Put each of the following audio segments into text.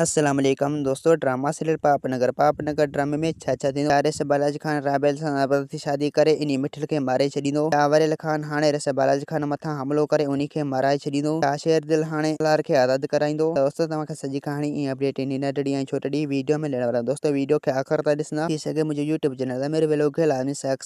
السلام عليڪم دوستو ڊراما سيريل پاپ نگر پاپ نگر ڊرامي ۾ ڇا ڇا ٿيندو آهي ريس بالاجي خان رابيل سان زبردستي شادي ڪري انهي مٺل کي ماري ڇڏيندو ڇا وريل خان هاڻي ريس بالاجي خان مٿان حملو ڪري انهي کي مارائي ڇڏيندو ڇا شير دل هاڻي سالار کي آزاد ڪرائيندو ته دوستو توهان کي سڄي ڪهاڻي ۽ اپڊيٽ انهي ننڍڙي ۽ ڇوٽڙي ويڊيو ۾ ڏيڻ وارا آهيون دوستو ويڊيو کي آخر تائين ڏسندا ٿي سگهي منهنجي يوٽيوب چينل ضمير ويلوگ کي لازمي سڪ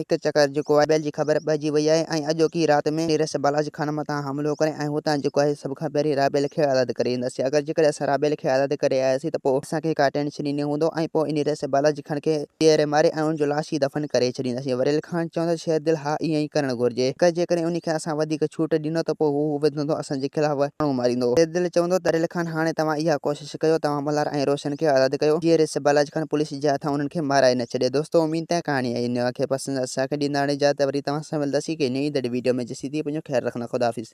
هڪ چڪر جيڪو آهي بيل جي خبر پئجي وئي آهي ۽ اڄوڪي رات ۾ نيرس بالاجي خان مٿان حملو ڪري ۽ هتان جيڪو آهي سڀ کان پهرين رابيل کي آزاد ڪري اينداسين اگر جيڪڏهن اسان رابيل کي آزاد ڪري آياسين ته پوء اسان کي ڪا ٽينشن ئي نه هوندو ۽ پوء نيرس بالاجي خان کي ٻيهر ماري ۽ ان جو لاش ئي دفن ڪري ڇڏينداسين وريل خان چيو ته شيردل ها ائين ئي ڪرڻ گهرجي اگر جيڪڏهن ان کي اسان وڌيڪ ڇوٽ ڏنو ته پوء هو وڌندو اسان جي خلاف ماڻهو ماريندو شيردل چوندو ته وريل خان هاڻي توهان اها ڪوشش ڪوشش ڪيو توهان ملهار ۽ روشن کي آزاد ڪيو جيئن ريس بالاجي خان پوليس جي هٿان انهن کي مارائي نه ڇڏي دوستو اميد ته ڪهاڻي ۽ نيو کي پسند اسان کي ڏيندا هاڻي اجازت وري توهان سان ملنداسين ڪنهن نئين دڙي ويڊيو ۾ جيسيتي پنهنجو خيال رکندا خدا حافظ.